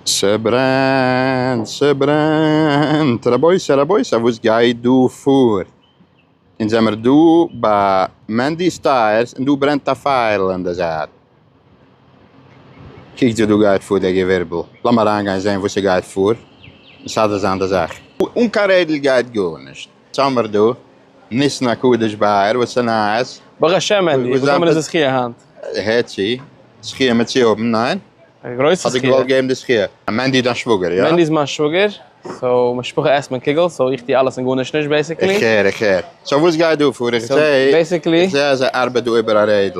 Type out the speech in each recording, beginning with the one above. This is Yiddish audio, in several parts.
ס'ברענט ס'ברענט רבותי רבותי וואס גייט דא פאר? אונז זעמער דא ביי מענדי'ס טייערס און דא ברענט א פייערל אין די זייט, קוקטס וואס דא גייט פאר די געווירבל, לאמיר אריינגיין זען וואס ס'גייט פאר, מסדר זיין די זאך. אן קיין רעדל גייט גארנישט. סאמער דא, ניסן הקדוש באייר, וואס איז נייעס? ברוך השם ענדי, וואס נאמען איז די זכיה היינט? הער צו, זכיה מיט צו האבן, ניין? א גרויסע זכיה. האט דיר געוואלט געבן די זכיה. מענדי איז דיין שוואגער, יא? מענדי איז מיין שוואגער, סאו משפחה עסט מען קוגל, סאו איך טו אלעס און גארנישט נישט בעיסיקלי. איך הער, איך הער. סאו וואס גייט דא פאר? איך זעה, איך זעה אז ער ארבעט דא איבער א רעדל.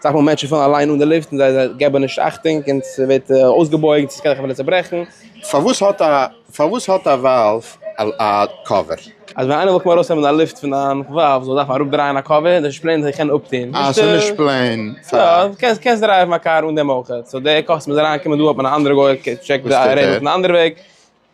אסאך מאל מענטשן פאלן אליין אן די לופט און זיי געבן נישט אכטונג און ס'ווערט אויסגעבויגט און ס'קען זיך אפילו צעברעכן. פארוואס האט א פארוואס האט א וואלוו א קאווער? אז ווען איינער וויל קומען ארויסנעמען א לופט פון דיין וואלוו זאל דארפן אראפדרייען א קאווער, דאס איז נישט פלעין זיך קענען אפטון. אה ס'איז נישט פלעין פאר. יא, קענסט דרייוון א קאר אן דעם אויך. סאו די קאסט מוז אריינקומען דא האט מען א אנדערע גוי קען טשעקן די ערעימענט פון די אנדערע וועג.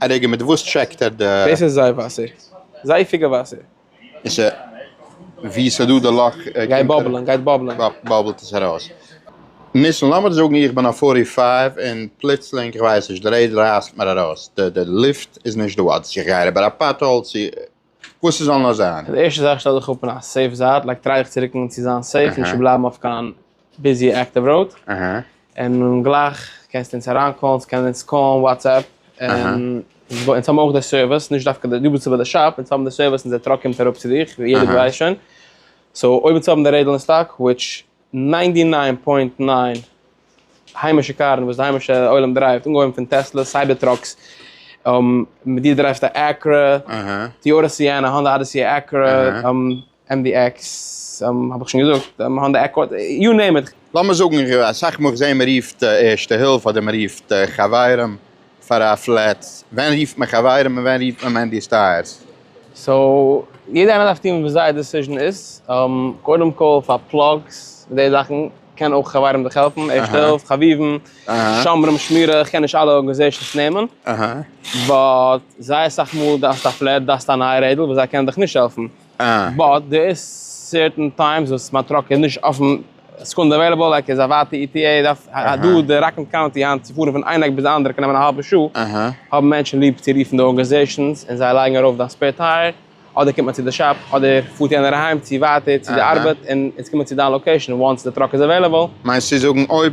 א רגע, מיט וואס טשעקט ער די. דאס איז זיי וואסער. זייפיגע וואסער. און ס'איז ווי ס'איז דא די לאך. גייט באבלען, גייט באבלען. באבלט עס ארויס. ניסן, לאמיר זאגן איך בין אויף פארטי פייוו און פלוצלינג, כ'ווייס נישט, די רעדל רייסט מיר ארויס, די לופט איז נישט דא, אדער איך גיי אריבער א פאטהאול, צו וואס ס'זאל נאר זיין. די ערשטע זאך שטעל דיך אפ אין א סעיף זייט, לייג טרייעך צו רוקן צו זיין סעיף, נישט צו בלייבן אויף קיין ביזי עקטיוו ראוד, און גלייך קענסטו אונז אריין קאלן, ס'קען אונז קאלן, וואטסעפפ, און אונז האבן אויך די סערוויס, נישט דווקא די, דו ביסט אבער די שאפ, אונז האבן די סערוויס אונזער טראק קומט אראפ צו דיך, ווי יעדער געווייסט שוין, סאו אויב אונז האבן די רעדל אין סטאק, וויטש. ניינטי ניין פוינט ניין היימישע קארן וואס די היימישע עולם דרייווט, אנגעהויבן פון טעסלעס, סייבער טראקס, דו דרייווט א עקרא, טיאטא סיענא, האנדא אדעסי, עקרא, עם די עקס, האב איך שוין געזאגט, האנדא עקארד, יו נעים איט. לאמיר זאגן אסאך מאל איך זעה מ'רופט ערשטע הילף אדער מ'רופט חברים פאר א פלאץ? ווען רופט מען חברים און ווען רופט מען מענדי סטייערס? סאו יעדע איינער דארף טון וואס זייער דעסיזשן איז, קודם כל פאר פלאגס און די זאכן קען אויך חברים דיך העלפן, ערשטע הילף, חביבים, שומרים, שמירה, איך קען נישט אלע ארגענעזעישאנס נעמען, באט זייער סאך מאל דארפסטו א פלעט, דארפסטו א נייע רעדל וואס זיי קענען דיך נישט העלפן, באט דער איז סערטען טיימס וואס מיין טראק איז נישט אויפן סעקונדע עוועליבעל לייק איז א ווייטע אי טי עי דארף דא די ראקלענד קאונטי היינט צו פארן פון איין עק ביז די אנדערע קען נעמען א האלבע שעה האבן מענטשן ליב צו רופן די ארגענעזעישאנס און זיי לייגן ארויף דיין ספעיר טייער אדער קומט מען צו די שאפ אדער פארט יענער אהיים צו ווייטער צו די ארבעט און אונז קומען צו דיין לאקעישאן וואנס די טראק איז עוועליבעל. מיינסט צו זאגן אויב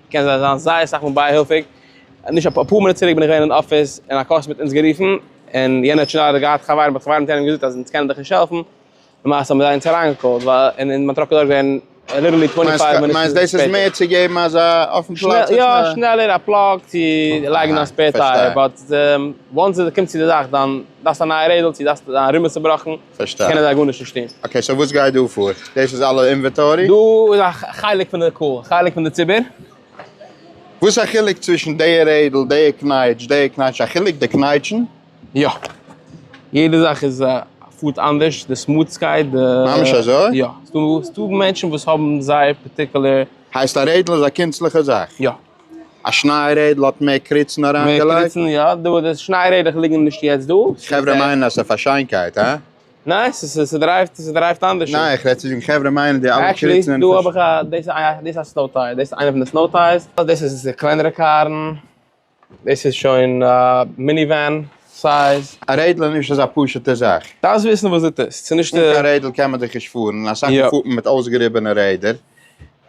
קען זיין זיין זייער סאך מאל בייהילפיג, נישט אפאר מינוט צוריק בין איך געווען אין אפיס און א קאסט מיט אונז גערופן, און יענער האט שוין איידער געהאט חברים באט חברים האט יענעם געזאגט אז אונז קענען דיך נישט העלפן, למעשה האבן זיי אונז אריינגעקאלט ווייל און און מען האט טראגט דארט געווען ליטערלי טווענטי פייוו מינוט שפעטער. מיינסט דאס איז מער צו געבן אזא אויפן פלאץ? יא שנעלער א פלאג צו לייגן א ספער טייער, באט וואנס עס קומט צו די זאך דאן דארפסטו א נייע רעדל צו דארפסטו דיין רימעל צובראכן, פארשטיי. קענען זיי גארנישט נישט טון. אקעי סאו וואס גייט דא פאר? דאס איז אלע אינוועטארי? דא איז א חלק פון די קהל, חלק פון די ציבור. וואס איז א חילוק צווישן די רעדל, די קנייטש, די קנייטש? א חילוק די קנייטשן? יא. יעדע זאך איז פארט אנדערש, די סמוטסקייט, די. ממש אזוי? יא. ס'דא מענטשן וואס האבן זייער פארטיקולער. הייסט א רעדל איז א קונצליכע זאך? יא. א שניי רעדל האט מער קריצן אריינגעלייגט. מער קריצן יא, דא די שניי רעדער ליגן נישט יעצט דא. חברה מיינען אז ס'איז פאר שיינקייט הא? ניין ס'דרייווט ס'דרייווט אנדערש. ניין איך רעד צו זאגן חברה מיינען די אלע קריצן. עקשעלי דא האב איך א דאס איז א דאס איז א סנאו טייער דאס איז איינע פון די סנאו טייערס. דאס איז די קלענערע קארן. דאס איז שוין א מיני ווען סייז. א רעדל איז נישט אזא פשוטע זאך. דארפסט וויסן וואס דו טוסט. ס'איז נישט. אן קיין רעדל קען מען דאך נישט פארן. אסאך מאל פארט מען מיט אויסגעריבענע רעדער.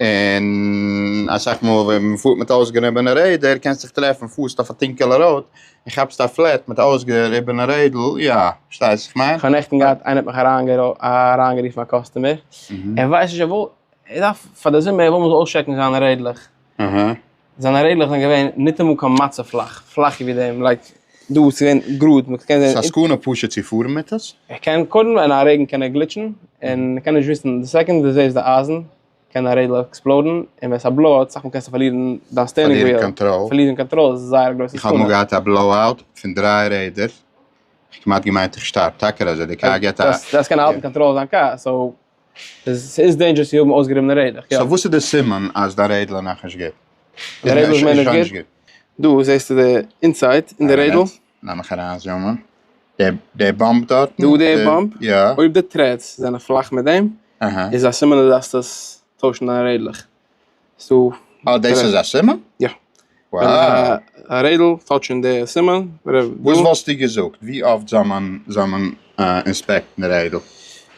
און אסאך מאל ווען מען פארט מיט אויסגעריבענע רעדער קענסט דיך טרעפן פארסט אויף א טונקעלע ראוד און כאפסט א פלעט מיט א אויסגעריבענע רעדל, יא, פארשטייסט וואס איך מיין? כ'האב נעכטן געהאט איינער האט מיך אריינגערופן א קאסטומער ער ווייסט נישט ער וויל ער דארף פאר די זומער ער וויל מ'זאל אויסטשעקן זיינע רעדלעך. זיינע רעדלעך זענען געווען ניטאמאל קיין מצה פלאך, פלאכער ווי דעם, לייק דא וואס איז געווען גראד, מען קען זען. ס'סכנה פשוט צו פארן מיט עס? ער קען קודם אין א רעגן קען ער גליטשן און ער קען נישט וויסן, די סעקאנד דו זעסט די אייזן קען די רעדל עקספלאודן, און ווען ס'א בלאו אוט אסאך מאל קענסטו פארלירן דיין סטערנינג וויעל, פארלירן קאנטראל, פארלירן קאנטראל איז זייער א גרויסע סכנה. איך האב אמאל געהאט א בלאו אוט פון דריי רעדער, איך כמעט געמיינט איך שטארב, טאקער אזוי, די קאר געט א. דאס קען האלטן קאנטראל זיין קאר, סאו ס'איז דעינדזשערס צו האבן אויסגעריבענע רעדלעך, יא. סאו וואס איז די סימן אז דיין רעדל איז נאכנישט גוט? די רעדל איז מער נישט גוט? דא זעסטו די אינסייד אין די רעדל. לאמיך אריין זומען. די באמפ דארטן? דא די באמפ? יא. אויב די טרעדס זענען פלאך מיט דעם, איז א סימן אז דו דארפסט עס טוישן דיין רעדלעך. סאו אה דאס איז א סימן? יא. וואו. א רעדל האט שוין די סימן. וואס וואלסטו געזאגט ווי אפט זאל מען זאל מען אינספעקטן רעדל?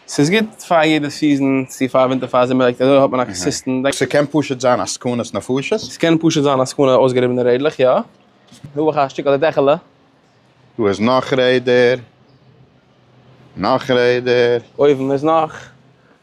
ס'איז גוט פאר יעדע סיזען צו פאר ווינטער פאר זומער לייק אזוי האט מען א קאסיסטענט דעק. ס'קען פשוט זיין א סכנת נפשות? ס'קען פשוט זיין א סכנה אויסגעריבענע רעדלעך יא. דא אויך א שטיקל די דעכעלע. דא איז נאך רעדער. נאך רעדער. אויבן איז נאך.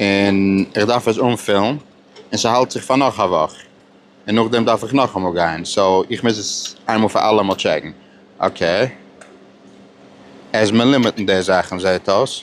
און איך דארף עס אנפילן און ס'האלט זיך פאר נאך א וואך און נאכדעם דארף איך נאכאמאל גיין סאו איך מוז עס איינמאל פאר אלעמאל טשעקן אקעי עז מען לימיטן די זאכן זעהט אויס.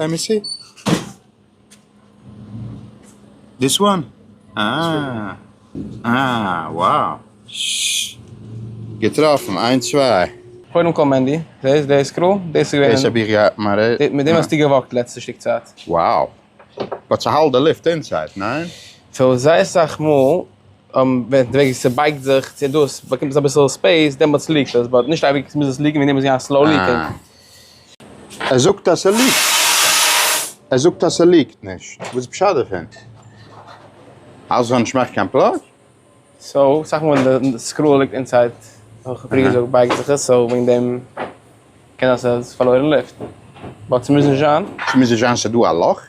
לעט מי סי. דיס וואן? אה אה וואו ששש געטראפן איינס צוויי. קודם כל מענדי, זעסט די סקרול? דאס איז געווען. דאס האב איך געהאט מיין רעדע. מיט דעם האסטו געוואקט לעצטע שטיק צייט. וואו. באט ס'האלט די לופט אינסייד, ניין? סאו זייער סאך מאל ווען די וועג ס'בייגט זיך צו דאס באקומט עס אביסל ספעיס דעמאלטס ליעקט עס, באט נישט אייביג מוז עס ליעקן ווען דעמאלטס איז געווען א סלאו ליעקינג. ער זאגט אז ס'ליגט. ער זאגט אז ס'ליגט נישט. וואס איז פשט דערפון? אז ס'זאל נישט מאכן קיין פלאג? סאו אסאך מאל ווען די סקרול ליגט אינסייד ווי איך האב פריער געזאגט בייגט זיך עס סאו וועגן דעם קען זיין ס'האט פארלוירן לופט באט ס'מוז נישט זיין. ס'מוז נישט זיין ס'דא א לאך?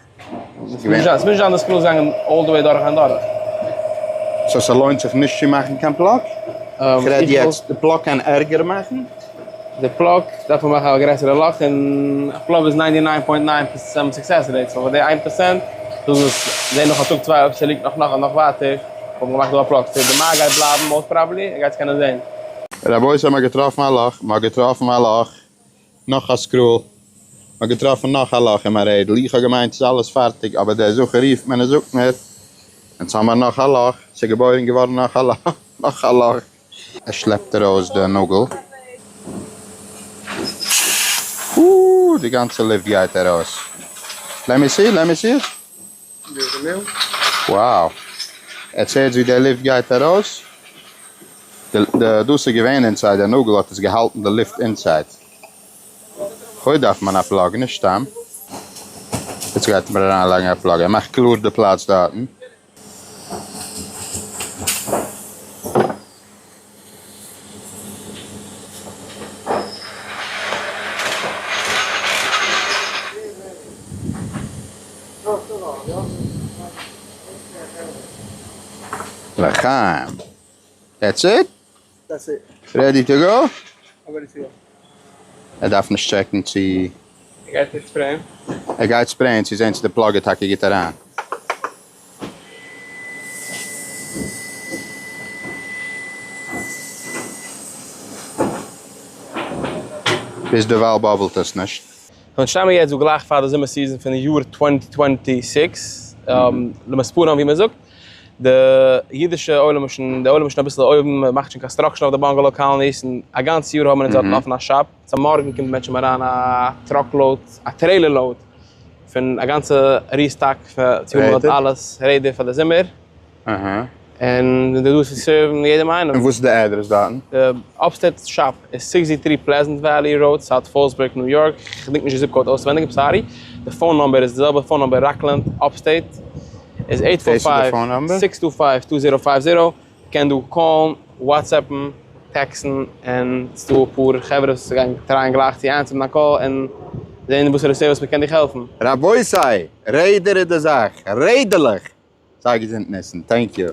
ס'מוז נישט זיין די סקול איז געגאנגען אלל די וועי דורך און דורך. סאו ס'לוינט זיך נישט צו מאכן קיין פלאג? איך רעד יעצט די פלאג קען ערגער מאכן? די פלאג דארף מען מאכן א גרעסערע לאך און א פלאג איז ניינטי ניין פוינט ניין פערסענט סוקסעס רעיט סאו פאר די איין פערסענט זאל עס זעהן נאך א טאג צוויי אויב ס'ליגט נאך נאך נאך ווייטער וואלט מען געמאכט דא א פלאג סאו די מייל גייט בלייבן מאוסט פראבעלי ער גייט עס קענען זעהן. רבותי מ'האט געטראפן א לאך! מ'האט געטראפן א לאך! נאך א סקרול, מ'האט געטראפן נאך א לאך אין מיין רעדל, איך האב געמיינט ס'איז אלעס פארטיג, אבער דער זכר רופט מיר און זאגט מיר, אונז האמיר נאך א לאך, ס'איז געבוירן געווארן נאך א לאך, נאך א לאך. ער שלעפט ארויס די נאגל, אאאא, די גאנצע לופט גייט ארויס, לעמי סי, לעמי סי. וואו! עטס הערטס ווי די לופט גייט ארויס? די דאס איז געווען אינסייד די נאגל האט עס געהאלטן די לופט אינסייד. חו דארף מען א פלאג נישט סתם. עטס גייט מיר אריין לייגן א פלאג ער מאכט קלאר די פלאץ דארטן. לחיים. דעטס איט? דעטס איט. רעדי טו גאו? אבער איז יא. ער דארף נישט טשעקן צו. ער גייט עס ספרעיען. ער גייט ספרעיען צו זעהן צו די פלאג איז טאקע גוט אריין. ביז דערווייל באבלט עס נישט. פון שטאמען יעצט וואו גלייך פאר די זומער סיזאן פון די יאר טווענטי טווענטי סיקס, למספרם ווי מען זאגט, די אידישע עולם איז שוין, די עולם איז שוין אביסל אויבן, מען מאכט שוין קאנסטראקשען אויף די באנגעלאו קאלאניס, און א גאנץ יאר האבן מיר אונז דארטן אפן א שאפ. צו מארגן קומט מען שוין אריין א טראק לאוד א טרעילער לאוד פון א גאנצע ריסטאק פאר צו האבן דארט אלעס רעדי פאר די זומער אהה און זיי זענען דא צו סערוון יעדעם איינעם. און וואס איז די אדרעס דארטן? די אפסטעיט שאפ איז סיקס זי טרי פלעזענט וואלי ראוד סאוט פאלסבורג ניו יארק, כ'געדענק נישט די זיפ קאוד אויסעווענדיג איים סארי, די פאון נאמבער איז די זעלבע פאון נאמבער ראקלענד אפסטעיט איז אייט פאר פייוו סיקס טו פייוו טו זערא פייוו זערא. קען דא קאלן, וואטסעפן, טעקסן, און ס'דא אפאר חברה וואס גייען טרייען גלייך צו אנטצינדן א קאל און זעהן וואס ער עס וואס מ'קען דיך העלפן. רבותי! רעדער איז די זאך! רעדעלעך! זייער געזונט ניסן! טענק יו!